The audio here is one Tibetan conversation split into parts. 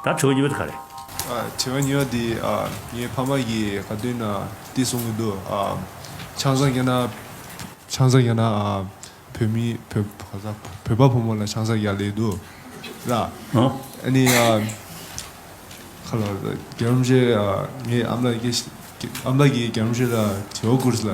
ད་དྲི་བ་གཉིས་པ་དེ་ག་རེད། དྲི་བ་གཉིས་པ་འདི་ངའི་ཕ་མ་གིས་ག་དུས་ན་བལྟས་སོང་གི་འདུག་ཆང་ས་རྒྱ་ན་ཆང་ས་རྒྱ་ན་བོད་མི་བོད་པ་ཕོ་མོ་ལ་ཆང་ས་རྒྱ་ལས་འདུག་ལ་ཨ་ནི་ཁ་ལོ་རྒྱ་རོམ་བཞེས་ངའི་ཨམ་ལགས་ཀྱིས་རྒྱ་རོམ་བཞེས་ལ་དྲི་བ་བསྐུར་ལ་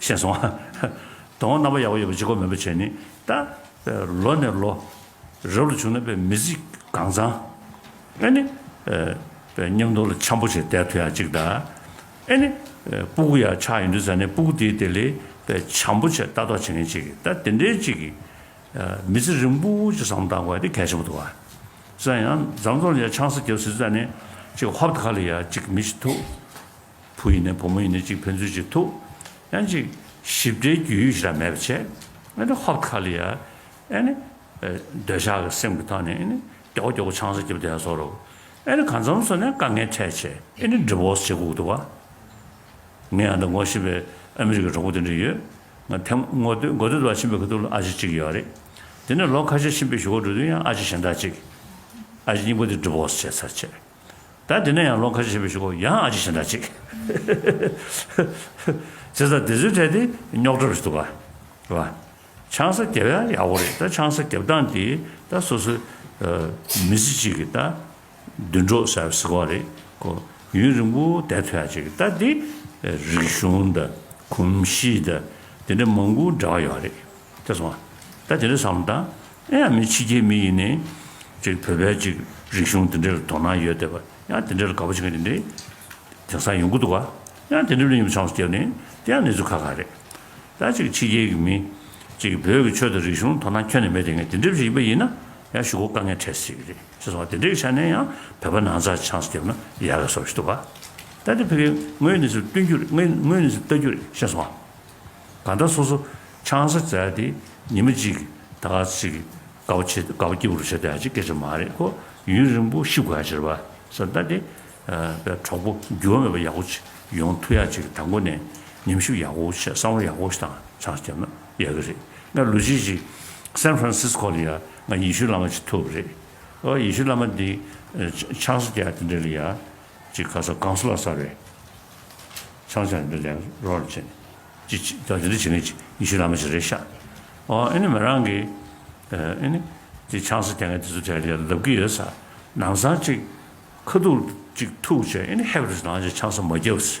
ཤེས་སོང། དོན་དངོས་རྣམ་པ་ཡག་པོ་ཡོད་པ་གཅིག་གོ་མེད་པ་བྱས་ནས་ད། ལོ་ནས་ལོ། རབས་ལ་བྱུང་ན་པའི་མི་ཚིག་གང་ཚང། ཨེ་ནི། པའི་ཉམས་རྟོགས་ལ་འཆམ་པོ་བྱས་དལ་ཐུ་ཡག་གཅིག་ད། ཨེ་ནི། སྤུ་གུ་ཡག་ཆགས་ཡིན་དུས་ཟ་ནས་སྤུ་གུ་དེའི་དེ་ལས་པའི་འཆམ་པོ་བྱས་ལྟ་རྟོགས་བྱེད་མཁན་གཅིག་གི་ད་དེ་འདྲའི་གཅིག་གི། མི་ཚེ་རིང་པོ་གཅིག་བསམ་བློ་བཏང་དགོས་དེ་གལ་ཆེན་པོ་འདུག་བ། སང་ཡང་ཛམ་རྫོང་ལ་ཡ་ཆང་ས་རྒྱབ་ཟིན་ད་ནས་གཅིག་ཧོབ་ད་ཁ་ལ་ཡ་གཅིག་མི་ཤི་ཐུག། བུ་ཡིན་ནས་བུ་མོ་ཡིན་ནས་གཅིག་ཕན་ཚུན་གཅིག་ཐུག་ཡང་གཅིག་ཞིབ་ཕྲའི་རྒྱུས་ཡོད་ཞིག་ལ་མེད་པ་བྱས་ཨཱ་ནི་ཧོབ་ཁ་ལི་ཡ་ཨཱ་ནི་འདོད་ཆགས་ཀྱི་སེམས་ཀྱི་ཐོག་ནས་ཨཱ་ནི་སྐྱོ་སྐྱོ་གི་ཆང་ས་རྒྱབ་བསྡད་སོ་རུག་ཨཱ་ནི་གང་མཚམས་སུ་ནས་དཀའ་ངལ་འཕྲད་བྱས་ཨཱ་ནི་འདྲི་བོགས་བྱེད་སྒུག་འདུག་བ། ངས་ཨ་འདྲ་ངོ་ཤེས་པའི་ཨ་མི་རི་ཀའི་གྲོགས་པོ་དེ་འདྲ་ཡོད་ང་ཐེངས་དགུ་དུས་ལ་ཕྱིན་པའི་ཁ་ཐུག་ལ་ཨ་ཅེ་གཅིག་ཡོད་རེད་དེ་ནས་ལོ་ཁ་ཤས་ཕྱིན་པའི་ཞོགས་པ་འགྲོ་དུས་ཡང་ཨ་ཅེ་གཞན་དག་ཅིག་ཨ་ཅེ་སྙིང་པོ་དེ་འདྲི་བོགས་བྱེད་ཚར་བྱས། ད་དེ་ནས་ཡང་ལོ་ཁ་ཤས་པའི་ཞིག་གོ་ཡང་ཨ་ཅེ་ཞེ་འདྲ་ཅིག། ཚེ་ས་དེ་ཚོའི་གྲས་དེ་རྙོག་གྲ་རེད་འདུག་ག་རེད་བ། ཆང་ས་རྒྱབ་ཡ་ཡག་པོ་རེད་ད་ཆང་ས་རྒྱབ་སྟངས་དེ་ད་སོ་སོའི་མི་ཚེ་གཅིག་གི་ད་མདུན་གྲོགས་ཟེར་བ་ཟེར་བ་རེད་གོ་ཡུན་རིང་པོ་བསྡད་ཐུབ་ཡ་ཅིག་གི་ད་དེ་རིག་གཞུང་ད་གོམས་གཤིས་ད་དེ་འདྲ་མང་པོ་འདྲ་བ་ཡོད་རེད། དེ་སོང་ང། ད་དེ་འདྲའི་བསམ་བློ་དང། ཨེ་ཡང་མི་ཕྱི་རྒྱལ་མི་ཡིན་ནི། ཅིག་བོད་པའི་ཅིག་རིག་གཞུང་དེ་འདྲའི་དོ་སྣང་ཡོད་དེ་བ། ཡང་དེ་འདྲའི་དགའ་པོ་བྱེད་མཁན་དེ་འདྲའི་དེང་སང་ཡོང་གི་འདུག་བ། ཡང་དེ་འདྲའི་གླུ་ཡིན་པ་ཆང་སོ་སྐྱབས་ནི་དེ་ཡང་གནས་ཚུལ་ཁ་ཁ་རེད། ད་ཅིག་ཕྱི་རྒྱལ་གྱི་མི། ཅིག་བོད་ཀྱི་ཆོས་དང་རིག་གཞུང་དོ་སྣང་ཁྱོན་ནས་མེད་དེ་ངས་དེ་འདྲའི་བྱེད་ཀྱི་པ་ཡིན་ན། ཡང་ཞུ་སྒོ་དཀའ་ངལ་འཕྲད་སྲིད་རེད། ཅེས་སོང་ང་དེ་འདྲའི་ཆ་ནས་ཡང་བོད་པ་ནང་ཚགས་ཆང་སྐྱབས་ན་ཡག་ག་སོ་ཞིག་འདུག་བ། ད་དེ་ཕི་གེ་ངོས་ནས་སུ་བསྟུན་རྒྱུ་རེད་ངོས་ནས་སུ་བལྟ་རྒྱུ་རེད་ཤེས་སོང་ང། ད་ལྟ་སོ་སོ་ཆང་ས་བཙལ་ཏེ་ཉི་མ་གཅིག་ད་ག་ཟིག་གི་དགའ་བོ་བྱེད་དགའ་བོ་སྐྱིད་པོ་རུ་བྱེད་དེ་ཧ་ཅིག་སྐད་ཆ་མ་རེད་ཁོ་ཡུན་རིང་པོ་ཤི་དགོས་ཧ་ཅིག་རེད་བ་ས་ད་དེ་པའི་གྲོགས་པོ་འགྱུར་བ་མེད་པ་ཡག་པོ་བྱེད་ཡོང་ཐུ་ཡ་ཅིག་ད་མགོ་ནས་ཉམས་ཞིབ་ཡག་པོ་བྱེད་བསམ་བློ་ཡག་པོ་བཏང་ཆགས་བརྒྱབ་ན་ཡག་གི་རེད་ང་ལུས་བྱེད་ཅིག་སན་ཧྥ་རན་སིས་ཁོ་ལ་ཡ་ང་ཡེ་ཤུ་བླ་མ་བྱེད་ཐུབ་རེད་ཨོ་ཡེ་ཤུ་བླ་མ་འདི་ཆང་ས་བཅལ་དེ་འདྲ་ལ་ཡ། ཅིག་ཁ་ས་གངས་སུ་ལ་ས་རེད། ཆང་ཆང་འདོན་ལེན་རོགས་རེ་བྱེད། ཅིག་ཅིག་ད་འདི་འདྲ་བྱེད་ངེས་ཅིག་ཉི་ཤུ་ལ་མ་བྱེད་རེད་ཤག་ཨོ་ཨེ་ནི་མི་རང་གི་ཨེ་ནི་དེ་ཆང་ས་དེ་ངས་དེ་ཚོ་དེ་རེད་ལབ་གི་ཡོད་ས་ནང་སང་ཅིག་ཁ་ཐུག་ཅིག་ཐུག་བྱས་ཨེ་ནི་ཧེབ་རེད་ལང་ཅིག་ཆང་ས་མ་རྒྱབ་སི